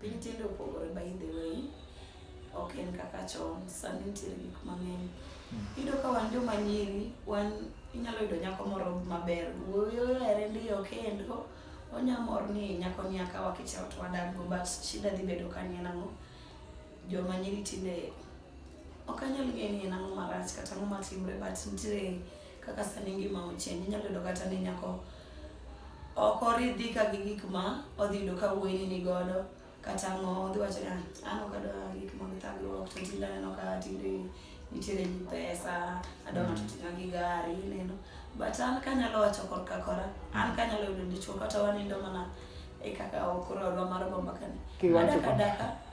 Piny tinde opogore by the way, ok en kaka chon, sani nitiere gik mang'eny. Hmm. Iyudo ka wan joma nyiri, wan inyalo yudo nyako moro maber, wuoyi ohere ndi okendo, onya mor ni nyako ni akawa kichao to wadak go, but shida dhi bedo ka ni en ang'o. Joma nyiri tinde ok anyal ng'eyo ni en ang'o marach kata ang'o matimre but nitiere Kaka sani ngima ochien, inyalo yudo kata ni nyako ok oridhi ka gi gik ma odhi yudo ka wuoyini ni godo kata ang'o odhi wacho ni "Ah, an ok adwa gik mag thagruok to tinde aneno ka tinde nitiere gi pesa adwa ng'ato ting'a gi gari ineno but an kanyalo wacho korka kora an kanyalo yudo dichwo kata wanindo mana e kaka okoro odwa mar gomba kani Kiwacho adaka kama. adaka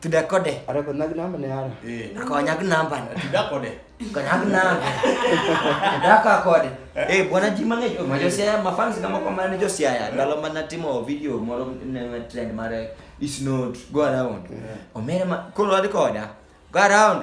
tudakode Arakonyaki namba ne ara. Eh, akonyaki nambani tudakode konyaki nambe dakakode Eh, bwana ji mang'eny oh, majo siaya mafans kama kwa mane jo siaya ndalo mana timo video moro ne trend mare is not go around omere ma koro wadhi koda go around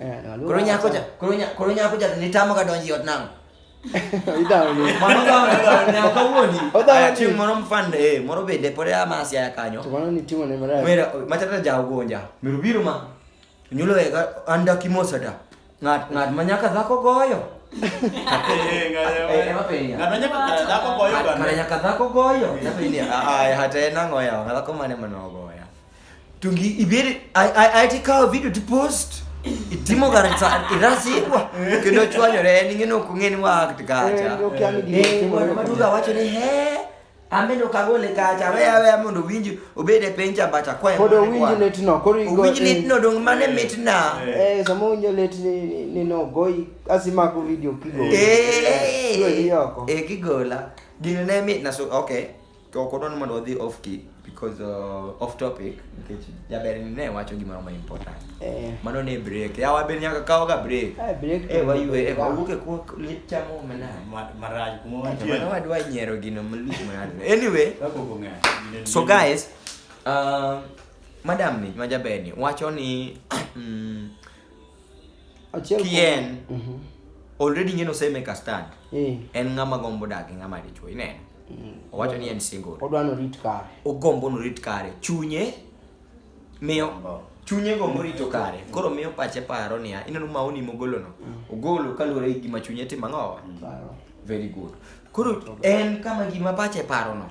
Eh, aluora Koro nyako cha, koro nya, koro nyako cha to nitamo ka donji ot nango. Idhawo ni. Mano gawa na gawa na kawuoni. Odhawo Aya, ni. Chieng' moro mfande eh moro bende pod amasi aya kanyo. To mano ni timo ne marach. Mera machata ja ugonja. Miru biro ma. Nyulo e ga anda kimosa da. Ngat ngat manyaka dhako goyo. Eh, ng'ayo, Eh, ema penya. ng'ato nyaka kara dhako goyo Kara gana. nyaka dhako goyo. Napenia. Aya hata enango ya dhako mane manogo. tungibidi aiti kawo video to post itimo kar irasikwa kendo chwanyore en ing'e nokong'e ni wakti kacha maduga wacho ni he ameno kagole kacha weya weya mondo owinji obed e piny cha bacha kwaye pod owinji litno koro igo owinji litno dong mane mitna eh sama owinjo lit ni no goyi asimako video kigo eh kigola gino ne mitna so okay To ok odwar ni mondo wadhi off key because uh, off topic nikech jaber ni ne wacho gimoro ma important. Eh. Mano ne break. Ya wabe nyaka kawo ga break. Ah, break to- Eh waywe eh wawuok e kwa chamo mena. Ma- marach kuma Mano wantie wadwa nyiero gino malich mano. Anyway, Kaka ok ong'eyo. Gine- so guys um, madam ni majaber ni wacho ni mm, Achiel kuom- Kien. Mhm. already ng'eno osemeka stand Eh. en ng'ama gombo dak gi ng'ama dichuo ineno Mm. Owacho ni en single. Odwa no rit kare. Ogombo no rit kare. Chunye miyo chunye go morito kare mm. koro miyo pache paro niya ineno maoni mogolono mm. ogolo kaluwore gi gima chunye timo ang'owa mm. very good koro en kama gima pache parono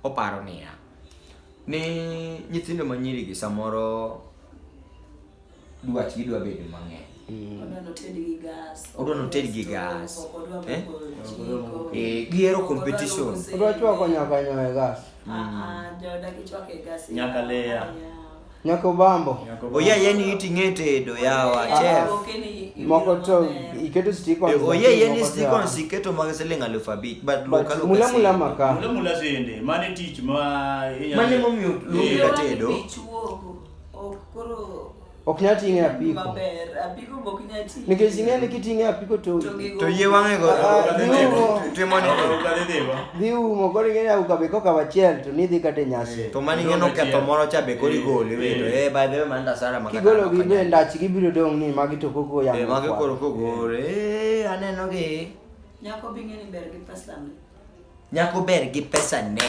oparo niya ni nyithindo manyirigi samoro dwach gidwa bedo mang'eny mm. odwa noted gi gas odwa noted gi gas eh? eh, gihero competition odwa chwako nyaka nyoe gas ah, mm. ah, joda gichwako e gas nyaka leya nyaka obambo oya yani iti ng'e tedo yawa ah, chef moko to iketo stikon eh, oye yeni stikon siketo mag siling alufu abich but loka loka mula mula maka mula mula sende mane tich ma mane momiyo luongo tedo Ok koro ok nyal ting'e apiko maber. Apiko be ok nyal ting'e. nikech ing'e ni kiting'e apiko to To gigo- To yie wang'e go. Ah, Timo. Timo ni. dhi umo koro ing'e ni auka be koka wachiel to nidhi kata e nyasi To mani ngeno ketho moro cha be kori gole wedo. Eh by the way man da sara makata. kigolo gi be ndach gibiro dong' ni magi to koko Eh yamo mage koro kogore. Eh aneno gi. Nyako be ing'e ni ber gi pesa ne. Nyako ber gi pesa ne.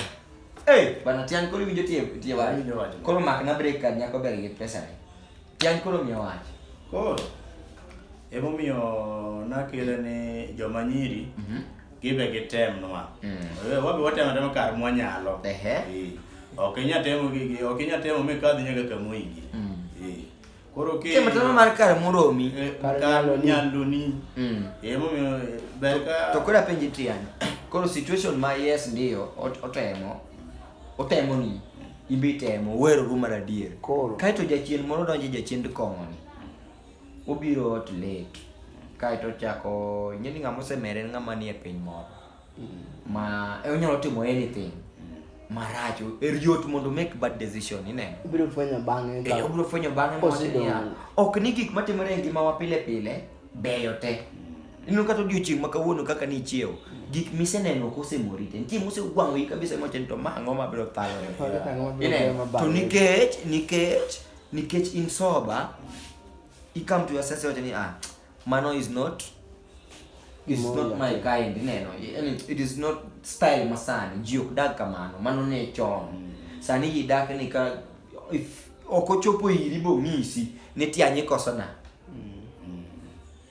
Hey, bana tiang koro winjo tie tie wach. Winjo wach. Koro mak na break kan nyako ber gi pesa ne. Tiang koro miyo wach. Koro emomiyo nakele ni joma nyiri Mhm. gibe gitemnwa. Mm. Eh, Wabe watemo temo kar mwanyalo. Ehe. Eh, Ok inya temo gi gi- ok inya temo mikadhi nyaka kama oyigi. Mm. Eh, Koro ke kema tama mar kar moromi eh, kar nyaloni mm. emo eh, ber ka to kora penji tian koro situation ma yes ndio otemo otemo ni ibi temo wero ru mar adier koro kaito jachien moro donje jachien kong'o ni obiro ot late kaito chako nyeni ng'ama osemere ng'ama ni e piny moro ma e onyalo timo anything maracho er yot mondo make bad decision ineno Ibiro fwenyo bang'e Eh, ka obiro fwenyo bang'e mowacho Kosidong'. niya ok ni gik matimore e ngimawa pile pile beyo te ineno kata odiochieng' ma kawuono kaka ni ichiewo gik miseneno ok osemori te nitie mosegwang'oyi kabisa mowacho ni to ma ang'o mabiro thalo Onge ang'o mabiro Ineno? beyo mabang'e. to nikech nikech nikech in sober you come to your sense wacho ni ah mano is not is More not my like- kind ineno Yaani, it is not style masani ji ok dag kamano mano ne chon sani ji dak ni ka if ok ochopo iri bong'isi ni tianye koso na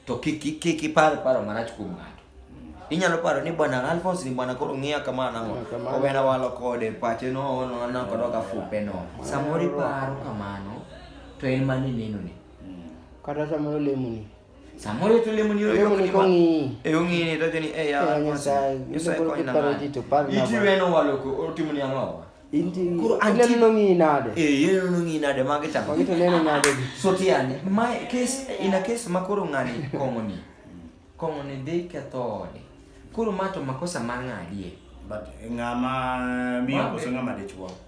to kik kik- kik ipar paro marach kuom ng'ato inyalo paro ni bwana Alphonse ni bwana koro ng'iya kama nang'o Ng'iya kama. obena walo kode pache no no no kodoka fupe no samoro iparo kamano to en mane nenoni Kata samoro lemoni. Samoro to lemoni yo yo ni kongi. E ongi ni to jeni e ya. Nyasaye. Nyasaye ko ina. Iti weno waloko otimo ni ang'o? Inti kuro anti neno ngi nade. Eh yeno neno ngi nade mage chamo. Mage to neno nade. So tiani my case in a case makoro ngani kongo ni. Kongo ni dhi ketho ode. Koro ma to makosa ma ng'adie. But ng'ama miyo koso ng'ama dichwo.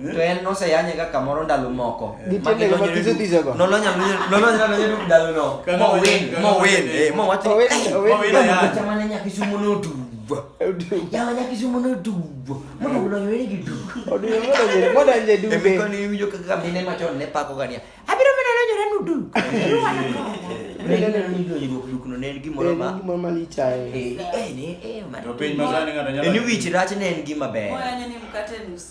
Eh? to en noseyanye ga kamoro ndalo moko eh. nolonya nonyo ndalono mowinmowinmowachamane nyakisumu nodubo yawa nyakisumu nodubo monolonyore gi duboemikoniwinjo kaka mine machon ne pako gania abiro mene lonyore nudu dukno ne en gimoro ma gimoro ma lich ahinya eh, eh, eh, ni wich rach ne en gima ber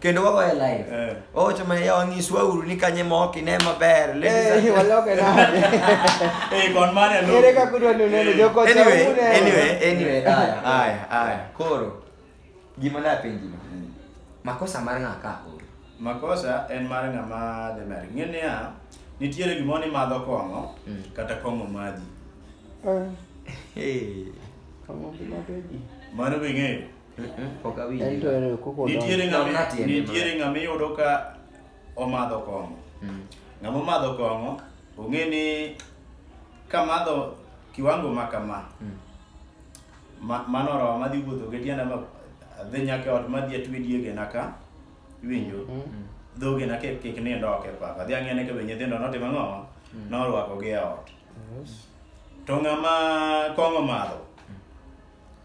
kendo wagoye live Eh. owacho ma yawa nyiswa uru ni kanye mok ine maber Eh, ladies and- waloke nade? Eh, kon mane lo. Ere kaka udwa ni unene joko anyway chaune? anyway anyway aya aya aya koro gima napenji no makosa mar ng'a ka koro Makosa en mar ng'ama dhi mer. Ng'e niya, nitiere gimoro ni madho kong'o Mm. kata kong'o madhi. Eh, Hey. kama bila beji. Mano be ng'eyo. nitiere ng'ama iyudo ka omadho kong'o mm. ng'ama omadho kong'o ong'e ni kamadho kiwango ma kama mm. mano roho madhi wuotho gi tienda adhi nyaka ot madhi atwe diegena ka iwinjo mm. dhogena kik nindo ok e papa adhi ang'e ne ka be nyithindo notimo ang'o norwakogi e ot to ng'ama kong'o madho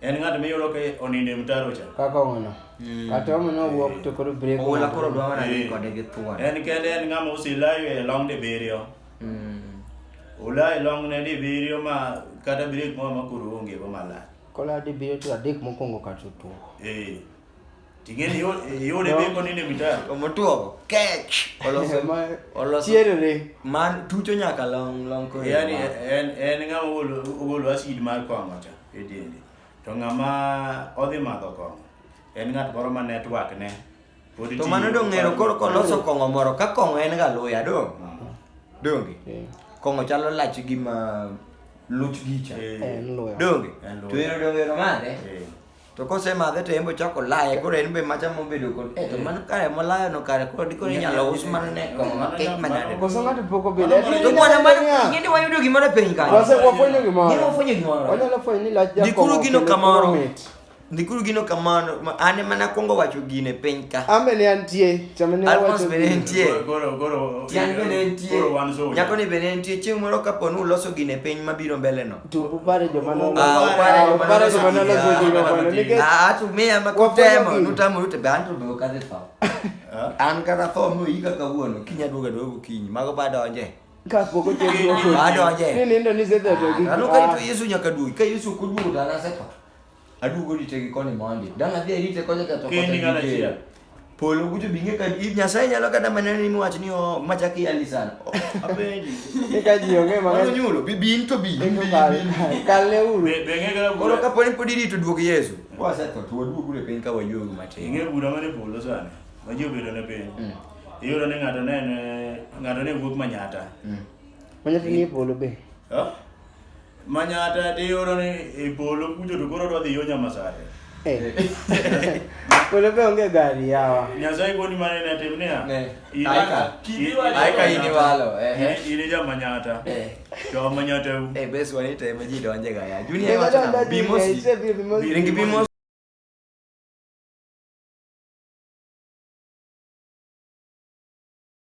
En ng'at miyudo ka onindo e mtaro cha. Kaka ono. Mm. Kata omo no wuok to koro break. Oula koro dwa mana ni kode gi thuon. En kende en ng'ama osilayo e long de biriyo. Mm. Ola e long ne de biriyo ma kata break mo ma koro onge go malach. Kola de biriyo to adek mokwongo kata otuo. Eh. Ting'e ni yo- yore No. beko nini mitaro. Omotuogo. Kech. Oloso. Ma- Oloso. chierere Man tucho nyaka long long kore. Yaani en en ng'ama ogolo ogolo acid mar kong'o cha e dende. To ng'ama odhi madho kong'o en ng'at moro ma network ne. pod To tiyo mano dong' ng'ero kod- koro koloso kong'o moro ka kong'o en ga luya dong'. Ah, Donge. Eh, Kong'o chalo lach gi ma luch gicha. eh, en luya Donge. En luya. To ero dong' ero mane? eh. to kosemadhe to en be ochako laye koro en be macha mobedo kod eh to mano kare molayo no kare koro dikoro inyalo us mana ne kong'o ma kek manade Koso ng'ato pok obedo. Mano- to kwana mano ing'e ni wayudo gimoro e piny kanyo Wase wafwenyo Gini gimoro. wafwenyo gimoro Wanyalo fwenyo ni lach jakomo. Ndikuru gino kendo kamoro. koro mit. ndikuru gino kamano ma- an ema nakwongo wacho gine piny ka Ambe ne antie. Chame ne Alphonse awacho. bende gino. nitie Goro, goro, tiang' bende nitie goro wan zone. nyako ni bende nitie chieng' moro kapo ni uloso gine piny mabiro mbeleno Upare jomano. Ah, upare jomano. Upare jomano la goji jomano. Nike. Ah, tu me ama kutema. Nutamo yute bantu do kaze fa. An kana tho mu iga kawuono. Kinya duoga duogo kinyi. Mago bado onje. Kapoko chendo. Bado onje. Ni nindo ni zeta do. Anu ka itu Yesu nyaka duogi. Ka Yesu kuduogo dana sepa. Aduogo rite gi koni mondi. Dang' adhi arite kocha ka to Keni kocha ng'ano gi achiel. dera. Polo kucho bing'e ka i- Nyasaye nyalo kata mana ni miwach ni o machak iyali sana. O, Apenji. Ni ka ji ong'e Mano mang'eny. nyulo, bi bin to bi. Eko kal. Kalne uru. Be be ng'e kaka Koro bura. kapo ni pod irito duog Yesu. Wasetho to waduogu e piny ka wayuogu matin. Ing'e bura mane polo sani. Ma ji obedo ne piny. Mm. Iyudo ni ng'ato ne ne ng'ato ne wuok manyata. Mm. Manyata ni e polo be. Ha? Manyata tiyudo ni e polo kucho to koro odwa dhi yo Nyamasare. Eh. Polo be onge gari yawa. Nyasaye koni mane ne tim niya. Ne. in- Aika. in- Aika in- iniwalo, eh, eh. In in ja Manyata. Eh. Jo Manyata u. Eh, bes wani to ema ji donje ga ya. Junior Never wacho done na that bimo before, si. it's a bit more- Ringi bimo